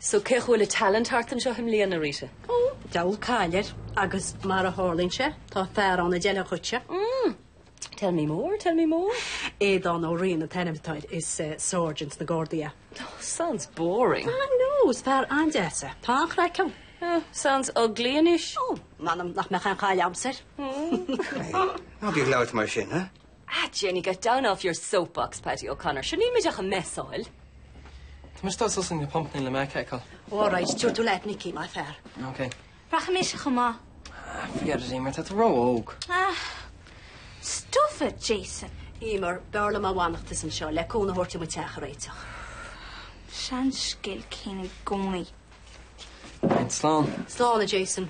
So cén chaoi a bhfuil an talent thart anseo i mbliana, Rita? Oh! Diabhal caill air agus mar a tharlaíonn sé, tá fear ann a d'fheilfeadh dhuitse. Mm! Tell me more, tell me more. Aodán Ó Riain an t-ainm atá air, is sergeant sna Gardaí é. Oh, sounds boring. Ah, no, is fear an-deas é. Tá an-chraic ann. Oh, sounds ugly anois. Oh, m'anam nach mbeadh aon chaill agamsa air. Craig, ná bí ag labhairt mar sin, eh? Ah, Janey, get down off your soapbox, Paddy O'Connor. Sure, níl muid ach ag messáil. Tá mise ag dul suas ag na pumpanna le Mack a fheiceáil. Oh, all right, tabhair tú leat Nicky, maith an fear. Ok. Rachaidh mise chomh maith. Ah, forget it, Emer, tá tú ró-óg. Ah, stuff it, Jason. Emer, b'fhearr liom dá bhfanfása anseo le cúnamh a thabhairt dom an teach a réiteach. Seanscéal céanna i gcónaí. Right, slán. Slán, a Jason.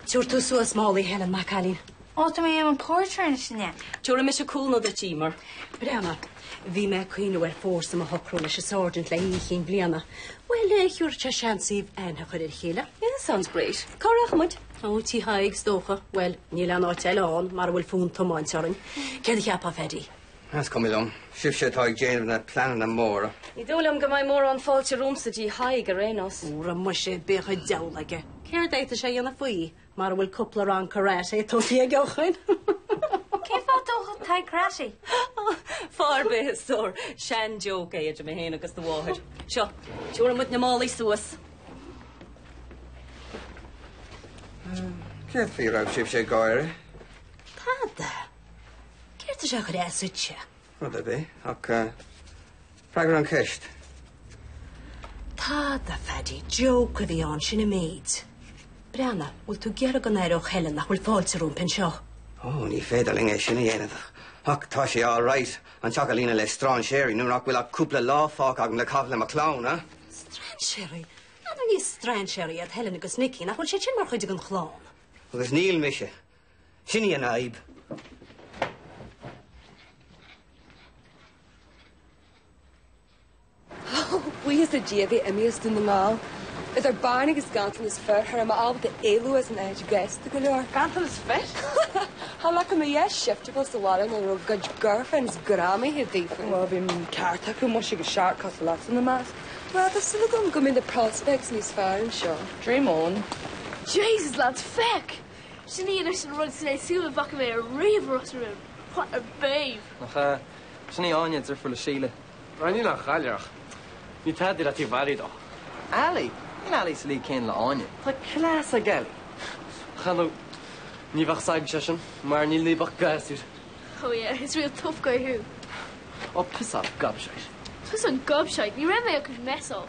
Tabhair tú suas málaí Helen, maith an cailín. Ó, tá mé i mo phorter anois, an ea. Tabharfaidh mise cúnamh duit, Emer. Breathna. Bhí mé ag cuimhneamh ar foursome a shocrú leis an Sergeant le hOíche Chinn Bliana. Bhuel, eh, thabharfadh sé seans daoibh aithne a chur ar a chéile. Yeah, sounds great. Cá rachaidh muid? Ó, Tigh Thaidhg, is dócha. Bhuel, níl aon áit eile ann, mara bhfuil fonn tiomáinte orainn. Céard a cheapfá, a Phaidí? Is cuma liom. Sibhse atá ag déanamh na pleananna móra. Ní dóigh liom go mbeidh mórán fáilte romhamsa Tigh Thaidhg ar aon nós. Ó muise, bíodh an diabhal aige. Céard a d'fhéadfadh sé a dhéanamh faoi? Mara bhfuil cúpla rang karate tosaithe aige ó shin. Cén fáth a dtógfadh Tadhg karate? Fáth ar bith a stór. Sean-joke é idir mé féin agus do mháthair. Seo, tabharfaidh muid na málaí suas. Céard faoi a raibh sibhse ag gáire? Tada? Céard is ea dhreas suite? Rud ar bith. Ach freagair an cheist. Tada, a Phaidí, joke a bhí ann, sin an méid. Breathna, bhfuil tú ag iarraidh go n-aireodh Helen nach bhfuil fáilte rompu anseo? Ó, ní féidir linn é sin a dhéanamh. Ach tá sé all right an teach a líonadh le strainséirí nuair nach bhfuil ach cúpla lá fágtha agam le caitheamh le mo chlann, eh? Strainséirí? Ar ndóigh ní strainséirí iad Helen agus Nicky nach bhfuil siad sin mar chuid den chlann? Agus níl mise. Sin í an fhadhb. Ó, buíochas le Dia a bheith imithe as Dún na nGall. Idir bean agus ganntanas fir, cha raibh mé ábalta éalú as an áit gasta go leor. Ganntanas fir? Thá leac an fhia shiftable sa bhaile nuair a raibh a gcuid girlfriends greamaithe díobh fúm. Bhuel, bhí an ceart acu, muise agus shark cosúil leatsa ina measc. Bhuel, tá súil agam go mbeidh na prospects níos fearr anseo. Dream on. Jesus lads, feic! Sin í anois an rud is deise dá bhfaca mé ariamh i Ros na Rún. What a babe! Ach ea. Sin í Áine, deirfiúr le Síle. Ara níl aon chailleadh uirthi ach ní tada í le taobh Ailí though. Ailí? Níl Ailí sa líg céanna le Áine. Tá class ag Ailí. You know. Ní bheadh a fhios agatsa é sin. Mar níl ionat ach gasúr. Oh yeah. Is real tough guy thú. Ó piss off gobshite. Tusa an gobshite. Ní raibh mé ag cuid mess of.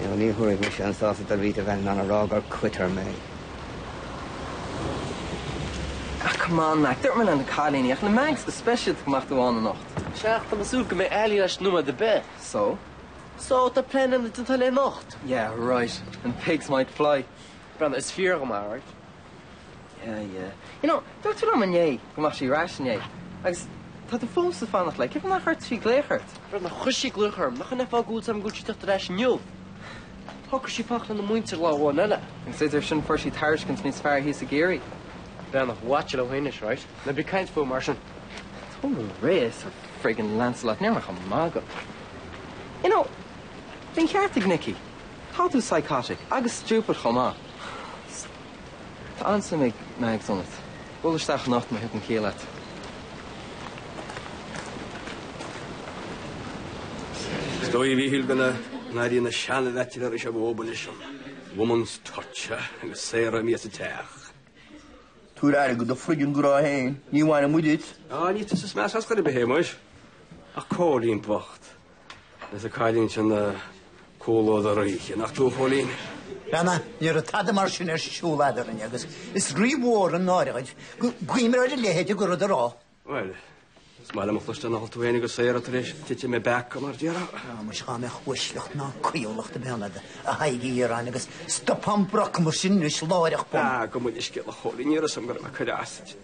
Now ní thabharfaidh mise an sásamh do Rita Bheith in ann a rá gur quitter mé. Ah come on Mac, dúirt mé leis na cailíní ach le Mags go speisialta go mbeadh tú ann anocht. Sea, tá mé ag súil go mbeidh Ailí ar ais nóiméad ar bith. So? So, tá plean agam dul tigh Ailí anocht. Yeah right, and pigs might fly. Breathnaigh, is fíor dhom, alright? Yeah, yeah. You know, dúirt tú liom inné go mbeadh sí ar ais inné agus tá tú fós ag fanacht léi, cén fáth nár chuir sí glaoch ort? Breathnaigh, chuir sí glaoch orm. Nach in é an fáth go bhfuil a fhios agam go bhfuil sí ag teacht ar ais inniu? Shocraigh sí fanacht lena muintir lá amháin eile. Agus idir sin fuair sí tairiscint níos fearr thíos i gCiarraí. Breathnaigh, watch it anois, right? Ná bí ag caint fúithi mar sin. Tóg go réidh é Sir friggin Lancelot, ní raibh mé ach ag magadh. You know, bhí an ceart ag Nicky. Tá tú psychotic agus stupid chomh maith. Tá an-suim ag Meags ionat. Buail isteach anocht má thagann ciall leat. Is dóigh, a Mhíchíl, go n-airíonn na seanbhaitsiléirí seo uathu anois an Woman's Touch agus Sarah imithe as an teach. Tabhair aire go do friggin ghraithe féin, ní bhaineann muid duit. Á, ní tusa is measa ar chor ar bith é muis, ach Cóilín bocht. Is an cailín sin ag codladh thar oíche, nach dú, Chóilín? Breathnaigh, ní raibh tada mar sin ar siúl eadrainn agus is rí-mhór an náire dhuit cuimhneamh ar a leithéid go rud a rá. Bhuel, is maith liom a chloisteáil nach raibh tú féin agus Sarah tar éis titim i bpeaca, mar a déarfá. Á muis dhá mbeadh uaisleacht ná cuíúlacht ag baint leat a Thaidhg Uí Dhireáin agus stopfá an brocamas sin anois, láithreach bonn. Gabh mo leithscéal a Chóilín, ní raibh a fhios agam go raibh mé ag cur as duit.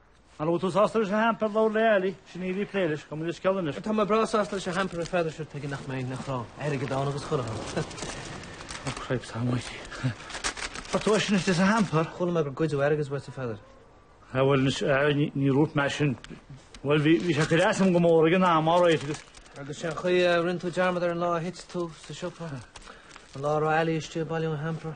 An raibh tú sásta leis an hamper labhair le Ali, sin í a bhí ag plé leis, tá muid ar sceall anois. Tá mé breá sásta leis an hamper ar fad, sure tuige nach mbeinn nach raibh airgead ann agus chuirfeadh an Oh cripes almighty. An bhfuair tú é sin istigh sa hamper. Chuala mé gur goideadh airgead uait a Pheadair. Ah bhuel anois ní dhúirt mé sin. Bhuel bhí sé ag cur as dhom go mór ag an am alright agus. Agus sé an chaoi a rinne tú dearmad air an lá a thit tú sa siopa, an lá a raibh Ali istigh ag bailiú an hamper.